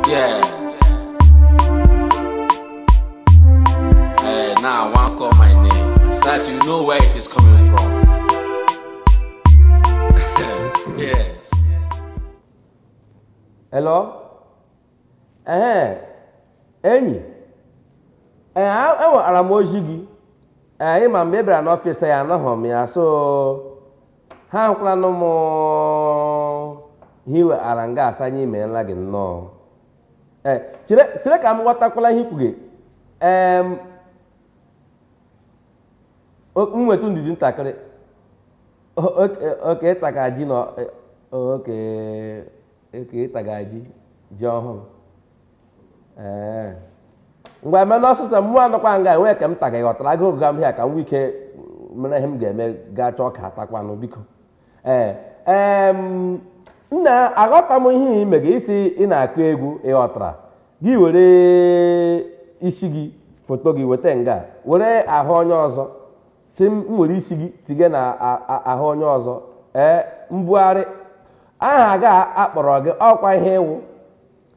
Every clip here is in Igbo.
Yeah. Hey, now I want to call my name so that you know where it is coming from. yes. Hello? Ee, enyi, ee, enwetara m ozi gị. Ee, ị ma mgbe ị bịara n'ọfịs ya anọghị m ya so ahụkwaranụ m ihe i wetara nga asa anyị imeela gị nnọọ ee chere chere ka m ghọtakwala ihe i kwuga ee m nwetụ ndidi ntakịrị okay ị taga ji nna okay ị taga ji ji ọhụrụ ee ngwa mee n'ọsọsọ mụ anọkwa nga enwee ka m taga ghọtara agụụ gụga m hia ka m nwee ike mere ihe m ga-eme gaa chọọ ka atakwanụ biko ee ee nna aghọta m ihe i mega ị sị ị na-akụ egwu ị ghọtara gị were isi gị foto gị weta nga were ahụ onye ọzọ sị m were isi gị tige na ahụ onye ọzọ ee mbugharị aha ga akpọrọ gị ọ kwa ihe ị wụ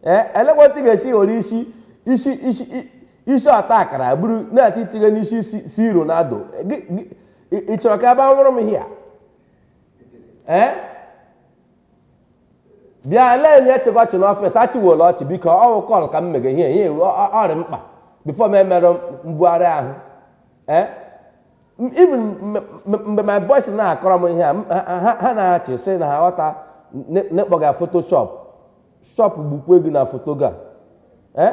ee elekwa otu ị ga-esi were isi isi isi i- isi ọta akara buru na-achọ itinye n'isi si- si Ronaldo Gị- gị- ị ị chọrọ ka a bịa nwụrụ m hia ee bịa lee ndị a chịga ọchị n'ọfịs achịwela ọchị biko ọ wụ call ka m mega ihe ihe ọ rị mkpa before m emerụ mbugharị ahụ ee M- even m- m- mgbe my boys na-akọrọ m ihe a m- ha- ha ha na-achị sị na ha ghọta n'ịkpọga photoshop shop gbukwe gị na foto ga eh?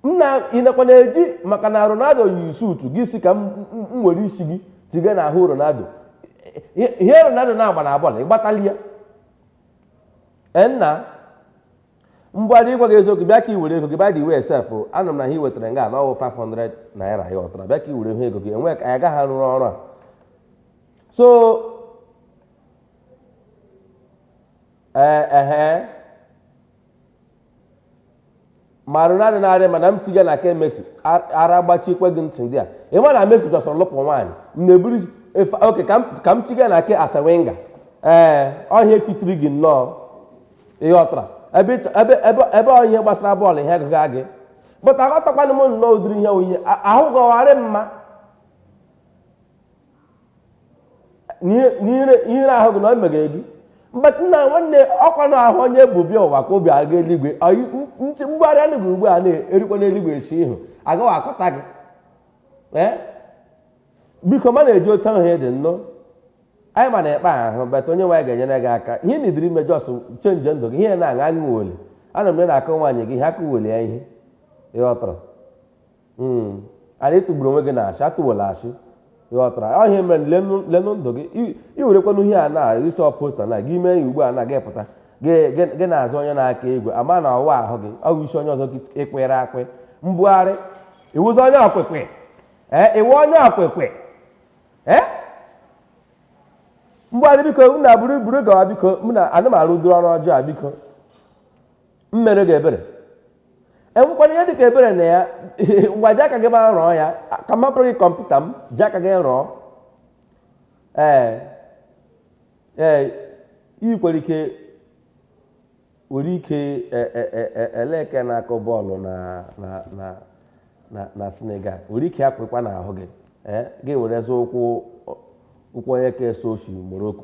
nna ịnakwa na-eji maka na Ronaldo yi suutu gị sị ka m were isi gị tiga na ahụ Ronaldo ihe Ronaldo na-agba na bọọlụ ị gbatali ya eh, nna mgbe adị ịgwa gị eziokwu bịa ka i were ego gị by the way sef anụ m na ihe i wetara nga na ọ wụ 500 naira ị ghọtara bịa ka i were ihe ego gị enwe ka anyị agaghị arụrụ ọrụ a so ee ehe ma Ronaldo na-arị mma na m tiga na nke Messi ar- ara gbachikwe gị ntị ndị a ị ma na Messi jọsọrọ lụpụ nwaanyị m na-eburu efe okay ka m ka m tiga na nke Arsene Wenger ee ọ ihe a fitiri gị nnọọ ị ghọtara ebe ịchọ- ebe ebe ebe ọ ihe gbasara bọọlụ ihe gụga gị but aghọtakwana m nnọọ ụdịrị ihe ọ ihe ahụ ga-arị mma n'ihere ahụ gị na o meghere gị mgbe nna nwanne ọkwa na ahụ onye bụ bịa ụwa ka o bu aga eluigwe mgbagharị anụ gị ugbu a na-erikwa n'eluigwe esi ihu agaghị akọta gị biko ma na-eji otu ahụ dị nnọọ anyị ma na-ekpe ahụ but onye nwaanyị ga-enyere gị aka ihe na idiri ime just chenji ndụ gị ihe na-aṅa aṅụ wole ana m na-akọ nwaanyị gị ihe aka wole ya ihe ịghọtara Hmm. anyị tụgburu onwe gị na ashị atụwela ashị ịghọtara ọhịa ah, mere lenụ ndụ gị i werekwanụ ihe a na isi ọposta na gị mee ya ugbu a na gị pụta gị na-azụ onye na-aka egwu ama na ọ wụ ahụ gị ọ bụ isi onye ọzọ ịkwere akwe mbugharị ị wụzi onye okike ee eh, ị wụ onye okike ee eh? mbugharị biko m na buru buru gawa biko m na anụmanụ duru ọrụ ọjọọ biko m mere gị ebere enwekwara ihe dịka ebere na ya ngwa ji aka gị ma rụọ ya ka m hapụrụ gị kọmputa m ji aka gị rụọ ee ee ị kwere ike nwere ike e, e, e, eleke na-akụ bọọlụ na Senegal nwere ike akwụkwa n'ahụ gị gị were zụ ụkwụ ụkwụ onye ka eso ochi Morocco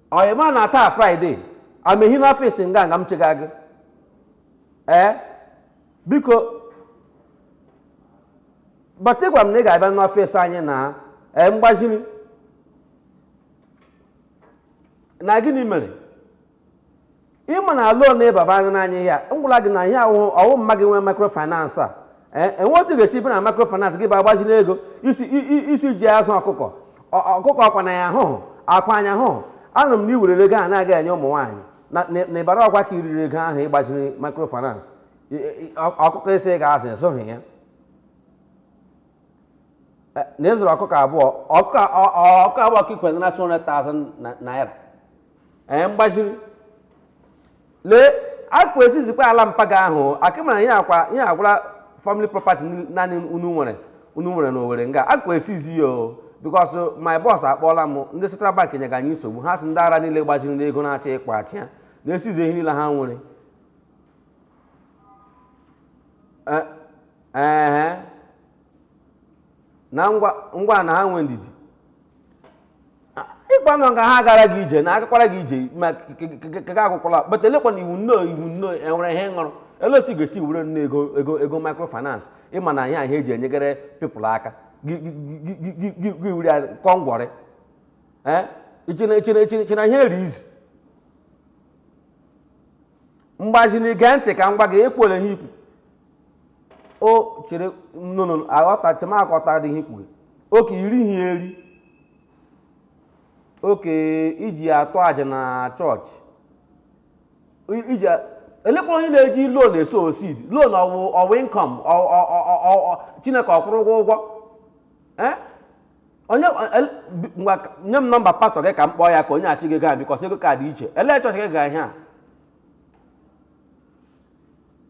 o ị ma na taa Friday amehi n'ọfịs nga nga m chega gị ee biko but ịgwa m na ị ga-abịa n'ọfịs anyị na ee mgbaziri na gịnị mere ịma na loan ịbaba anya n'anya ihe a m gwala gị na ihe ahụ ọ wụ mma gị nwe microfinance a ee enwe otu ga-esi bịa na microfinance gị bịa gbaziri ego ị sị i- i- ị sị i ji azụ ọkụkọ Ọ- ọkụkọ akwa na ya ahụhụ akwa anya ahụhụ anụ m na iwerere ego a na-aga enye ụmụ nwaanyị na- na na Ibari Ogwa ka iriri ego ahụ ịgbaziri microfinance I- i- ọ- ọkụkọ ị sị ị ga-azụ ị zụhụ ya eh, na ịzụrụ ọkụkọ abụọ ọkụkọ abụọ ka ikwere na 200,000 naira ee eh, mgbaziri lee akwa esizikwa ala mpa gị ahụ akịmara ihe akwa ihe agwụla family property naanị unu nwere unu nwere na Owerri nga akwa esizi ya o because my boss akpọọla m ndị Central Bank nyega anyị nsogbu ha sị ndị ara niile gbaziri n'ego na-achọ ịkwachi ya na-esizi ihe niile ha nwere eh, ee na ngwa na ha nwee ndidi ịkpanụ ka ha gara gị ije na agakwara gị ije ma keke akwụkwọla but elekwanụ iwu nnọọ iwu nnọọ enwere ihe ṅụrụ olee otu ị ga-esi were nnọọ ego ego ego microfinance ịma na ihe ihe eji enyegere people aka gị were ya kọọ ngwọrị i che na ihe a rị easy mgbaziri gee ntị ka m gwa gị ekwere ihe ikwu o chere nnụnụ aghọtacha m aghọtara ihe ikwu gị oke iri ihe eri oke iji atụ aja na chọọchị I- iji a- elekwa onye na-eji loan esow seed loan ọ wụ ọ wụ income ọ- ọ- ọ- ọ- ọ- chineke ọ kwụrụ ụgwọ ụgwọ Eh? onye nye m nọmba pastọ gị ka m kpọọ ya ka o nyeachi gị ya bikọs ego ka dị iche elee chọọchị gị ga ihe a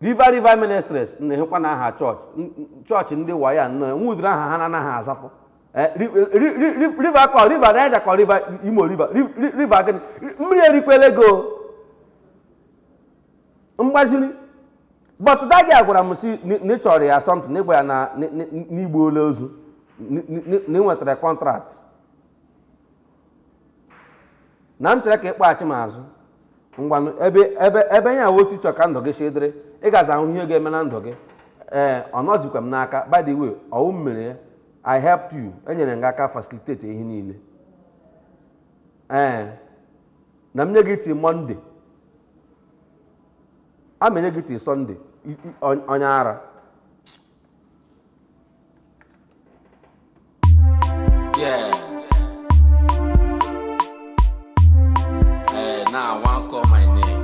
river river ministries na-ehekwa na aha chọọchị chọọchị ndị wayo nọ enwe ụdịrị aha ha na-anaghị azafụ Eh, river kọ river niger kọ river imo river river gịnị mmiri erikwela ego mgbaziri but dagi a gwara m si na ị chọrọ ya something na ị ga-anya ụgbọala ozu na ị nwetara kọntraktị na m chere ka ịkpọghachi m azụ ngwanụ ebe ebe ebe ya wụ otu ị chọ ka ndụ gị si dịrị ị gaza ahụ ihe ga-eme na ndụ gị ee ọ nọzikwa m n'aka by the way ọ wụ m mere ya i helped you enyere m gị aka facilitate ihe niile ee na m nye gị till mọnde a ma enye gị till sọnde i- i- on- onye ara Yeah. Eh, now I want call my name.